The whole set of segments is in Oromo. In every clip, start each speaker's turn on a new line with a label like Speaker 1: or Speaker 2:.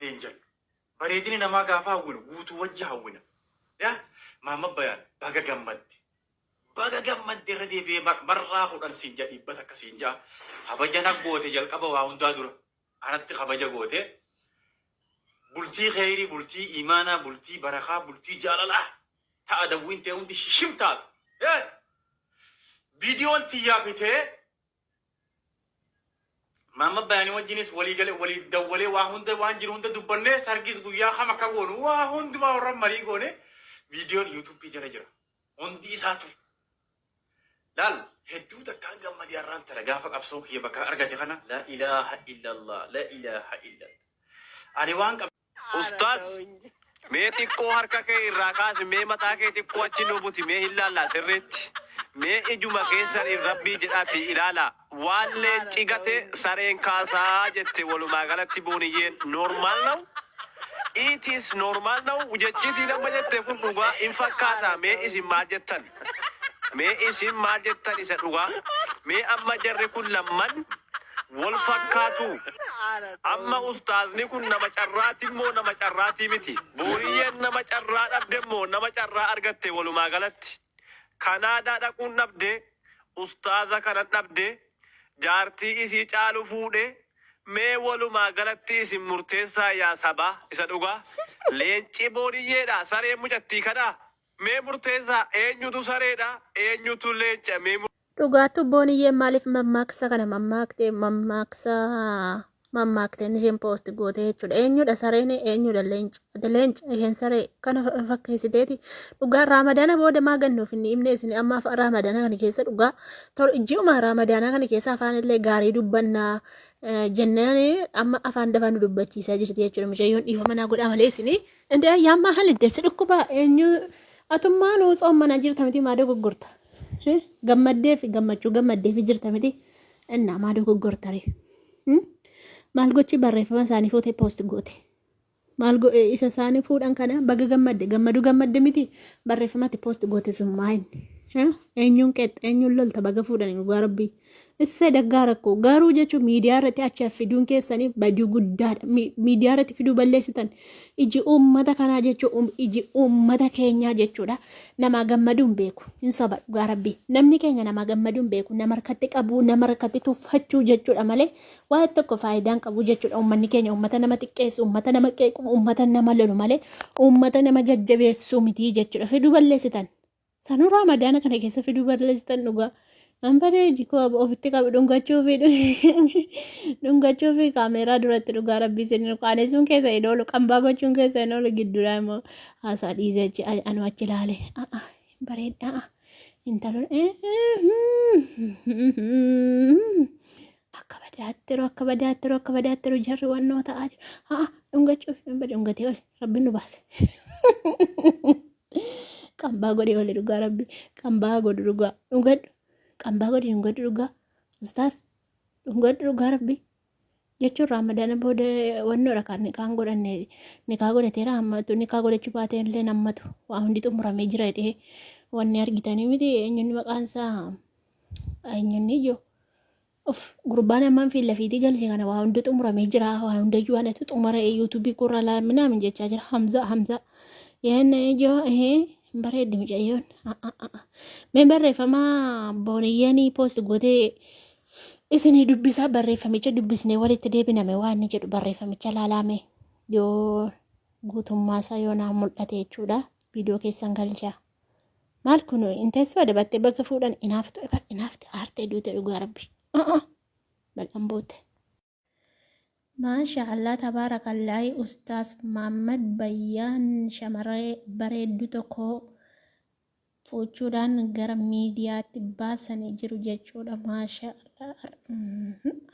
Speaker 1: Angel.
Speaker 2: Bareedina namaa gaafa hawwinu guutuu wajji hawwina. Ya Maamma Bayaan baga gammadde. Baga gammadde irra deebi'ee mar- marraa kudhan siin ja'a dhibba takka siin ja'a. Kabaja na goote jalqaba waa hundaa dura. Anatti kabaja goote. Bultii kheyrii, bultii imaanaa, bultii barakaa, bultii jaalalaa. Ta'a dawwiin tee hundi shishim taatu. Eh! Viidiyoon tiyyaa fi tee Maamma Bayaanii wajjinis walii gale waliif dawwalee waa hunda waan jiru hunda dubbannee sargis guyyaa kam akka goonu waa hundumaa warra marii goone viidiyoon yuutuubii jala jira. Hundi isaa ture. Laal hedduu takkaan gammadee har'aan tana gaafa qabsoo kiyya bakka argate kana la ilaaha illallah la ilaaha illallah. Ani waan qab Ustaaz
Speaker 3: mee xiqqoo harka kee irraa kaasi mee mataa kee xiqqoo achi nu buti mee hin laallaa sirriitti mee ijuma keessaniin rabbii jedhaatii ilaalaa waan leenci gate sareen kaasaa jette walumaa galatti booniyyeen normal now it is normal now jechitiin amma jette kun dhugaa hin fakkaataa mee isin maal jettan Mee isin maal jettan isa dhugaa? Mee amma jarri kun lamman wol fakkaatuu? Amma ustaazni kun nama carraatin moo nama carraatii miti? Booriyyeen nama carraa dhabde moo nama carraa argatte wolumaa galatti? Kanaadaa dhaquun dhabde, ustaaza kanan dhabde, jaartii isii caalu fuudhe, mee wolumaa galatti isin murteessaa yaa sabaa isa dhugaa? Leenci booriyyeedhaa? Sareen mucattii kanaa? Mee murteessaa eenyutu sareedha eenyutu leenca mee Dhugaattuu Booniyyeen
Speaker 4: maaliif mammaaksa kana mammaakte mammaaksa mammaakte isheen poosti goote jechuudha. Eenyudha sareen eenyudha leenci ati leenci isheen saree kana fa- fakkeessiteeti. Dhugaa raamadaana booda maa gannuuf inni himne isin amma afa- raamadaana kana keessa dhugaa tor ji'uma raamadaanaa kana keessa afaan illee gaarii dubbannaa eh, jennaan amma afaan dafaa nu dubbachiisaa jirti jechuudha. Mucayyoon dhiifama naa godhaa malee isin Indee ayyaan maa halidde si dhukkuba eenyu atummaa nuu tsoommanaa jirta miti maa dogoggorta Eh, gammaddee fi gammachuu gammaddee fi jirta miti innaa maa dogoggorta ree Hmm? maal gochi barreeffama isaanii fuutee poosti goote maal go- eh, isa isaanii fuudhan kana baga gammadde gammadu gammadde miti barreeffamatti poosti goote sun maayin eenyuun qeex eenyuun lolta baga fuudhan dhugaa rabbii Issa daggaa rakkoo garuu jechuun miidiyaa irratti achi fiduun keessanii badii guddaadha. Miidiyaa irratti fiduu balleessitan iji uummata kanaa jechuun iji uummata keenyaa jechuudha. Namaa gammaduu hin beeku. Hin soba dhugaa rabbii. Namni keenya namaa gammaduu hin beeku. Nama harkatti qabuu, nama harkatti tuffachuu jechuudha malee waa tokko faayidaan qabu jechuudha. Uummanni keenya uummata nama xiqqeessu, uummata nama qeequ, uummata nama lolu malee uummata nama jajjabeessu miti jechuudha. Fiduu balleessitan. Sanuu raamadaana kana keessa fiduu balleessitan dhugaa. An badee jikoo ofitti qabu dhungachuu fi dhungachuu fi kaameeraa duratti dhugaa rabbii isin qaanessuun keessa hin oolu qambaa gochuun keessa hin oolu gidduudhaa immoo haasaa dhiisee achi anu achi ilaale a'a bareeddaa a'a intaloon akka badaattiru akka badaattiru akka badaattiru jarri wannoo ta'aa jiru a'a dhungachuu fi dhungatee oli Rabbi nu baase. Qambaa godhee oole dhugaa rabbi. Qambaa godhu dhugaa. Dhugadhu. Qambaa godhi dhugadhu dhugaa. Ustaas. Dhugadhu dhugaa rabbi. Jechuun raamadaana booda wannoodha kan nikaan godhanne nikaa godhateera hammatu nikaa godhachuu baatee illee hammatu waa hundi xumuramee jira jedhee wanni argitanii miti eenyunni maqaan isaa eenyunni ijoo Uff gurbaan ammaan fiillafiitii galche kana waa hundi xumuramee jira waa hundayyuu anatu xumara yuutuubii koorraa laal minaamin jechaa jira hamzaa hamzaa yaanna ijoo ehee hin bareeddi mucayyoon Ah, ah, ah, ah. mee barreeffama booniyyanii poost gootee isinii dubbisaa barreeffamicha dubbisnee walitti deebiname waan inni jedhu barreeffamicha laalaame yoo guutummaasaa yoo naa mul'ate jechuudha viidiyoo keessan galchaa. Maal kun hin teessoo adabattee bakka fuudhan inaaftu ebar inaafte aartee duute dhugaa rabbi. A'a bal'an boote. Maasha Allah tabaarakallaahi ustaas Maammad Bayyaan shamarree bareeddu tokko fuuchuudhaan gara miidiyaatti baasanii jiru jechuudha maasha Allah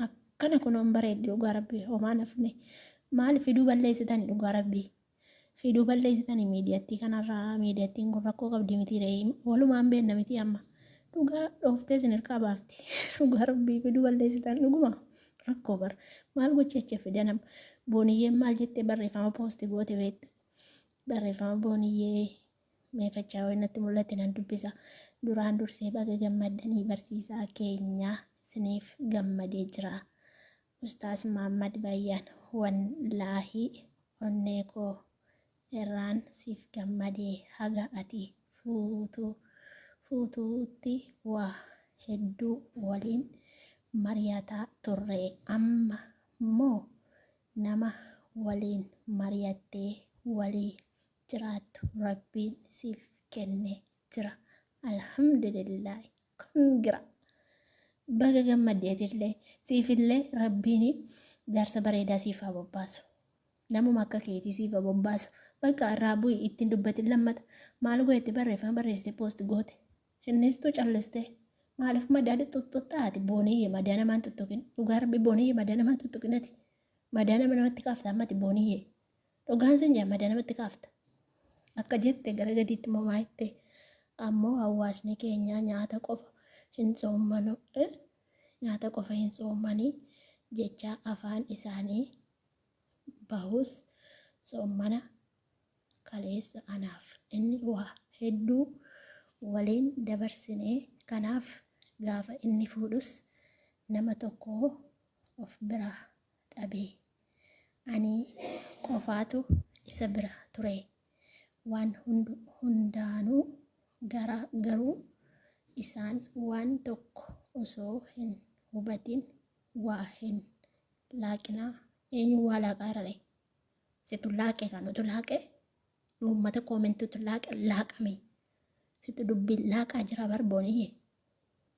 Speaker 4: akkana kunoon bareeddi dhugaa rabbii homaa nafne maaliif fiduu balleessitan dhugaa rabbii. Fiduu balleessitanii miidiyattii kanarraa miidiyattiin kun rakkoo qabdi mitii re'ee walumaan beenna mitii amma dhugaa dhooftee isin hirkaa baafti dhugaa rabbii fiduu balleessitan dhuguma rakkoo bar maal gocheecha fidanam booniyyeen maal jettee barreeffama poosti goote beekta barreeffama booniyyee meefachaa wayinatti mul'atti nan dubbisa duraan dursee baga gammaddanii barsiisaa keenyaa isiniif gammadee jira Ustaaz Muhammad Bayyaan wallaahi onnee koo irraan siif gammade haga ati fuutu fuututti waa hedduu waliin mariyataa turre amma moo nama waliin mariyattee walii jiraattu rabbiin siif kenne jira alhamdulillaahi. Congra baga gammadde atillee siifillee rabbiin jaarsa bareedaa siif haa bobbaasu namuma akka keetii siif haa bobbaasu bakka irraa bu'i itti hin dubbatin lammata maal goote barreeffama barreessite post goote innistuu calliste maaliif madaali xuxxuxxaa ati booniyye madaa namaan tuttuqin dhugaa rabbi booniyye madaa namaan tuttuqin ati madaa nama namatti kaafta ammati booniyye Dhugaan sin jaa madaa namatti kaafta. Akka jette gara gadiitti immoo maa jette ammoo hawaasni keenya nyaata qofa hin soommanu eh, nyaata qofa hin soommanii jecha afaan isaanii bahus soommana kaleessa anaaf inni waa hedduu waliin dabarsine kanaaf gaafa inni fuudhus nama tokko of biraa dhabee. Ani qofaatu isa bira ture. Waan hundaanuu garuu isaan waan tokko osoo hin hubatin waa hin laaqinaa. Eenyu waa laaqaa irrare? Situ laaqe kan utu laaqe uummata koomentuutu laaqe laaqame. Situ dubbiin laaqaa jira barbooniyye.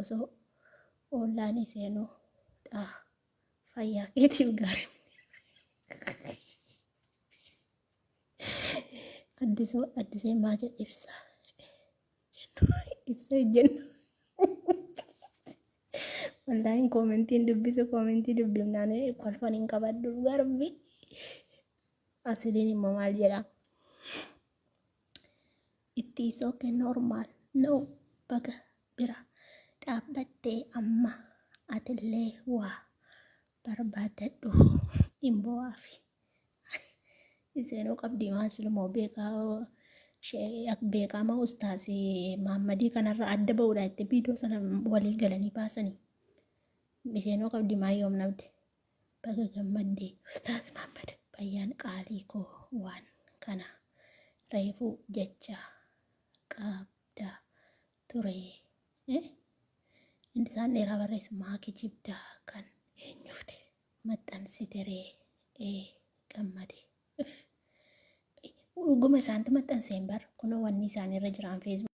Speaker 4: osoo ollaanii seenuu dhaa fayyaa keetiif gaarii addisuu addisee maa jedhe ibsa jennu ibsa jennu wallaahin koomentiin dubbisu koomentii dubbifnaan kolfan hin qabadhu garbi asiliin immoo maal jedhaa Itti is ok normal no baga bira dhaabbatte amma atillee waa barbaaddadhu hin boo'aafi iseenuu qabdii maa silumoo beekaa shee- ak- beekaama ustaasi maammadii kanarra adda ba'uudha itti biidoo sana walii galanii baasanii iseenuu qabdii maa yoom nabde Baga gammadde Ustaaz Maammad Bayyaan qaalii koo waan kana reefuu jecha qabda ture eh? Inni isaan dheeraa barreessu maa kijibda kan eenyufti maxxansite ree ee gammade Uff. dhuguma isaantu maxxanseen bar kunoo wanni isaanirra jiraan feesbuuk